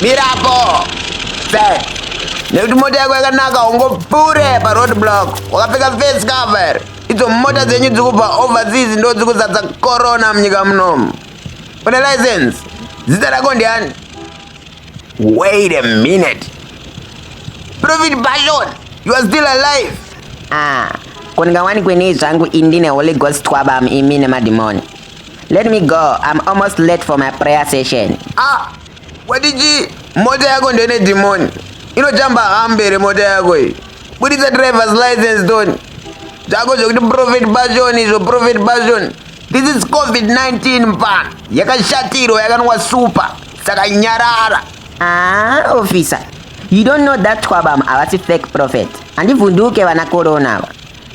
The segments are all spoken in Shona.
mirapo se nekuti mota yako yakanaka ungopure paroad block wakapfeka face cover idzo mota dzenyu dzikubva overseas ndo dzikuzadza corona munyika munomu une license zita rako ndiani Wait a minute. Prophet Bashon, you are still alive. Ah, kundingawani kwenei zvangu indi neholy ghost twabam imi nemadhimoni. Let me go. I'm almost late for my prayer session. Ah, wadiji mota yako ndio ine demon. Inotamba hambere mota yako hii. Buditsa driver's license Tony. Zako zvokuti prophet Bashon izvo prophet Bashon. This is COVID-19 mpano yakashatirwa yakanwa super saka nyarara. Ah, officer. You don't know that Twabam avasi fake prophet. Handivhunduke vana corona ava.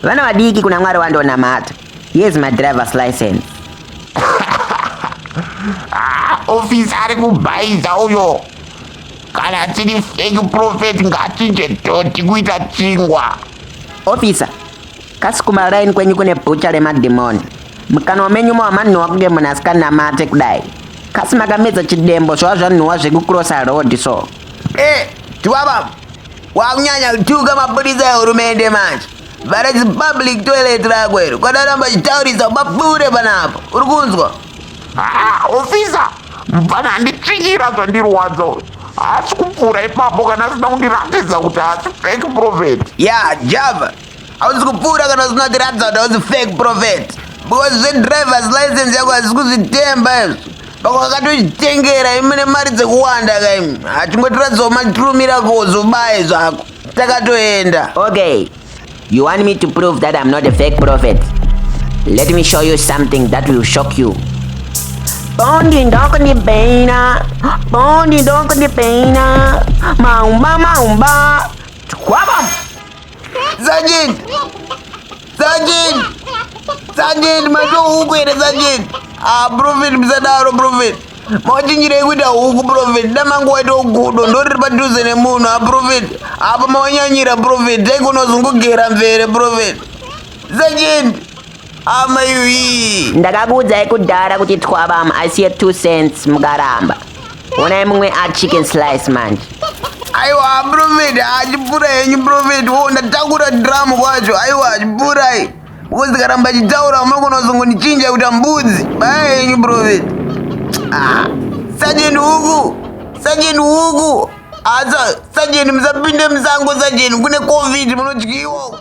Vana vadiki kuna Mwari wandonamata. Here's my driver's license. ah, officer ari kubhaiza uyo. Kana tiri fake prophet ngatinje toti kuita chingwa. Officer, Kasi kumaraini kwenyu kune bhucha remadhimoni. Mukanwa menyu mo hamanhuwa kunge munhu asikanamate kudai. Kasi makamedza chidembo zvava zvanhuwa zvekucrossa road so. Eh, chivava. Wakunyanya kutuka mapurisa ehurumende manje. Vhara zipublic toilet rako iro. Kwadaramba chitaurisa ubapure panapo. Uri kunzwa? Ah, officer, mfana anditsvikira zvandirwadza uyu. Haasi kupfuura ipapo kana asina kundiratidza kuti haasi fake prophet. ya java hausi kupfuura kana usina kutiratidza kuti hausi fake prophet because zvedrivers license yako hazisi kuzvitemba izvo pako wakatochitengera imi nemari dzekuwanda kaimi hachingotiratidzawo matirumira kozobaye zvako takatoenda okay You want me to prove that I'm not a fake prophet? Let me show you something that will shock you. Bondi ndoko ndi beina, bondi ndoko ndi beina, maumba maumba, twabam! Zajin! Zajin! Zajin, macho huku here Zajin? Ah, prophet, msadaro prophet. mawachinjirei kuita huku profeti damangu waitawo gudo ndoriri padhuze nemunhu aprofeti ah, apa mawanyanyira profeti daikonozungugera mvere profeti zachindi amayuyi ndakakuudzai kudhara kuti twabam asiye two cents mukaramba onai mumwe achicken slice manje aiwa profeti achipura henyu profeti wo ndatakura dramu kwacho aiwa achipura Because ndikaramba achitaura unogona kuzongonichinja kuita mbudzi baya yenyu prophet. Ah, sajeni huku, sajeni huku. Asa ah, sajeni musapinde musango sajeni kune covid munodyiwa.